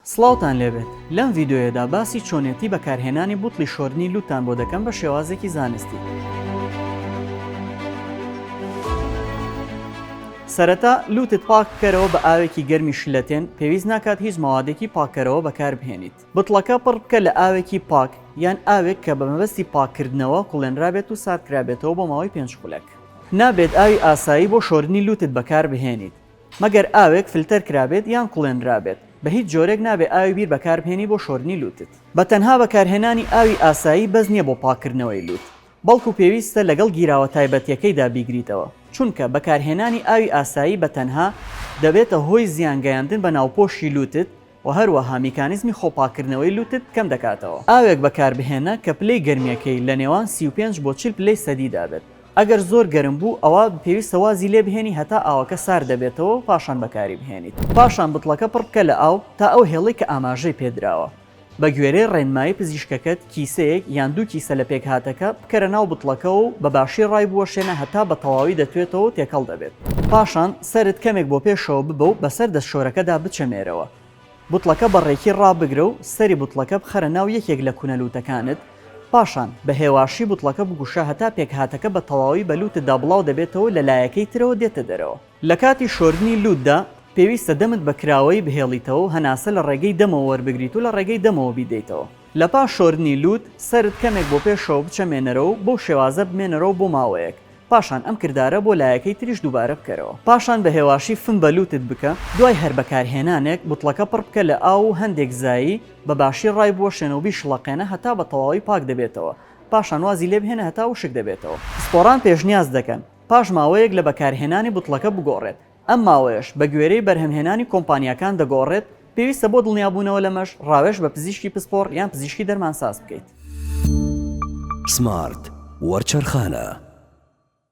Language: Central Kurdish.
سڵاوتان لێبێت لەم ڤیدۆیەدا باسی چۆنێتی بەکارهێنانی بوتڵی شۆردنی لوتتان بۆ دەکەم بە شێوازێکی زانستی. سەرەتا لوتت پاک بکەرەوە بە ئاوێکی گەرمی شلەتێن پێویست ناکات هیچ مەوادێکی پاککەرەوە بەکاربهێنیت بتڵەکە پڕ بکە لە ئاوێکی پاک یان ئاوێک کە بە مەبەستی پاککردنەوە کوڵێنرابێت و ساردکرابێتەوە بۆ ماوەی پێنج خولەک نابێت ئاوی ئاسایی بۆ شۆردنی لوتت بەکاربهێنیت مەگەر ئاوێک فلتەر کرابێت یان کوڵێنرابێت، بە هیچ جۆرێک نابێت ئاوی بیر بەکاربهێنی بۆ شۆردنی لووتت. بە تەنها بەکارهێنانی ئاوی ئاسایی بەس نییە بۆ پاککردنەوەی لووت، بەڵکو پێویستە لەگەڵ گیراوە تایبەتییەکەیدا بیگریتەوە، چونکە بەکارهێنانی ئاوی ئاسایی بە تەنها دەبێتە هۆی زیان گەیاندن بە ناوپۆشی لووتت و هەروەها میکانیزمی خۆپاککردنەوەی لوتت کەم دەکاتەوە. ئاوێک بەکاربهێنە کە پلەی گەرمییەکەی لە نێوان سی و پێنج بۆ چل پلەی سەدیدا بێت، ئەگەر زۆر گەرم بوو ئەوا پێویستە وازی لێ بهێنی هەتا ئاوەکە سارد دەبێتەوە و پاشان بەکاری بهێنیت. پاشان بتڵەکە پڕ بکە لە ئاو تا ئەو هێڵەی کە ئاماژەی پێ دراوە بەگوێرەی ڕێنمایی پزیشکەکەت کیسەیەک یان دوو کیسە لە پێکهاتەکە بکەرە ناو بتڵەکەوە و بە باشی ڕای بوەشێنە هەتا بە تەواوی دەتوێتەوە و تێکەڵ دەبێت، پاشان سەرت کەمێک بۆ پێشەوە ببە و بەسەر دەستشۆرەکەدا بچەمێرەوە، بتڵەکە بە ڕێکی ڕابگرە و سەری بتڵەکە بخەرە ناو یەکێک لە کونە لوتەکانت، پاشان بە هێواشی بتڵەکە بگوشە هەتا پێکهاتەکە بە تەواوی بە لوتتدا بڵاو دەبێتەوە و لە لایەکەی ترەوە دێتە دەرەوە. لە کاتی شۆردنی لوتدا پێویستە دەمت بە کراوەیی بهێڵیتەوە و هەناسە لە ڕێگەی دەمەوە وەربگریت و لە ڕێگەی دەمەوە بیدەیتەوە، لە پاش شۆردنی لووت سەرت کەمێک بۆ پێشەوە بچەمێنەرەوە و بەو شێوازە بمێنەرەوە بۆ ماوەیەک پاشان ئەم کردارە بۆ لایەکەی تریش دووبارە بکەرەوە پاشان بە هێواشی فم بە لووتت بکە، دوای هەر بەکارهێنانێک بوتڵەکە پڕ بکە لە ئاو و هەندێک زایی بە باشی ڕای بوەشێنە و بیشڵەقێنە هەتا بە تەواوی پاک دەبێتەوە پاشان وازی لێ بهێنە هەتا وشک دەبێتەوە. پسپۆڕان پێشنیاز دەکەن پاش ماوەیەک لە بەکارهێنانی بوتڵەکە بگۆڕێت ئەم ماوەیەش بە گوێرەی بەرهەمهێنانی کۆمپانیاکان دەگۆڕێت، پێویستە بۆ دڵنیابوونەوە لەمەش ڕاوێژ بە پزیشکی پسپۆڕ یان پزیشکی دەرمانساز بکەیت. سمارت وەرچەرخانە.